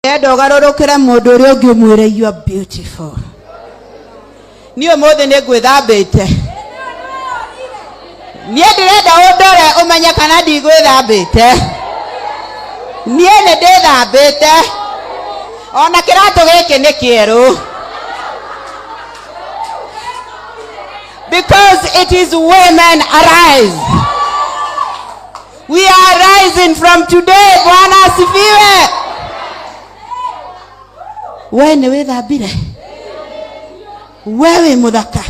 ndĩrenda ũgarũrũkĩre mũndũ ũrĩa ũngĩ ũmwĩre you are beautiful niĩ ũmũthĩ nĩ ngwĩthambĩte niĩ ndĩrenda ũndore ũmenye kana ndigwĩthambĩte niĩ nĩ ndĩthambĩte ona kĩratũ gĩkĩ nĩ kĩerũ because it is women arise We are rising from today. Bwana asifiwe. Wewe ni wĩthambire we wĩ mũthaka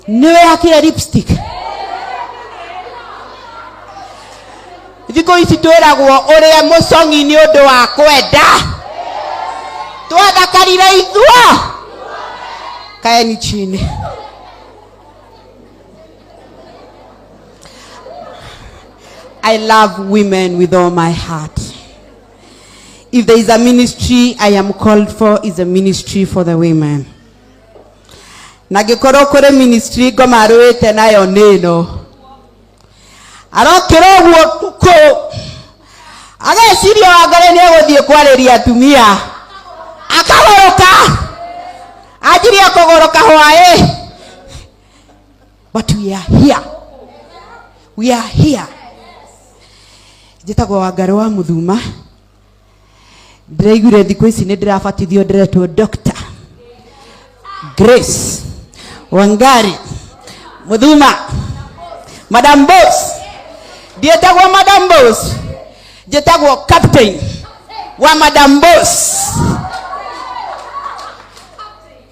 nĩ wĩhakire lipstick thikũ ici twĩragwo ũrĩa mũcong'i nĩ ũndũ wa kwenda twathakarire ithuo kaeni chini I love women with all my heart. If there is a ministry I am called for, is a ministry for the women. Na ngĩkorwo kũrĩ ministry ngomarũĩte nayo nĩ ĩno arokĩra ũguo kũkũ ageciria wangare nĩ egũthiĩ kwarĩria atumia akagoroka anjirie kũgoroka hwaĩ but we are here we are here njĩtagwo wangarĩ wa mũthuma ndĩraiguire thikũ ici nĩ ndĩrabatithio ndĩretwo doctor grace wangari mũthuma madam bos ndiĩtagwo madam bos njĩtagwo captain wa madam bos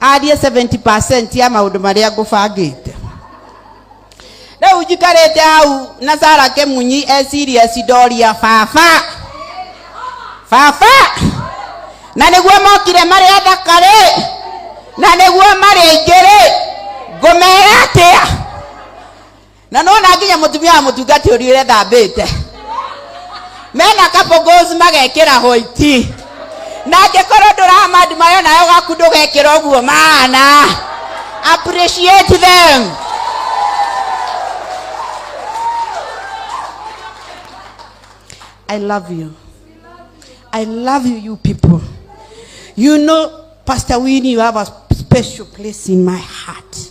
arie 70 ya maundu maria ngubangite riu njikarite hau na sara kimunyi eciria cidoria baba baba na niguo mokire mari athaka ri na niguo mari aingĩ ri ngũmera atia na nona nginya mutumia wa mutungati uriire thambite mena kabogos magekira hoiti na angĩkorwo ndũramandi mayo nayo gaku ndũgekĩra ũguo maana appreciate them I love you. I love you, you people. You know, Pastor Winnie, you have a special place in my heart.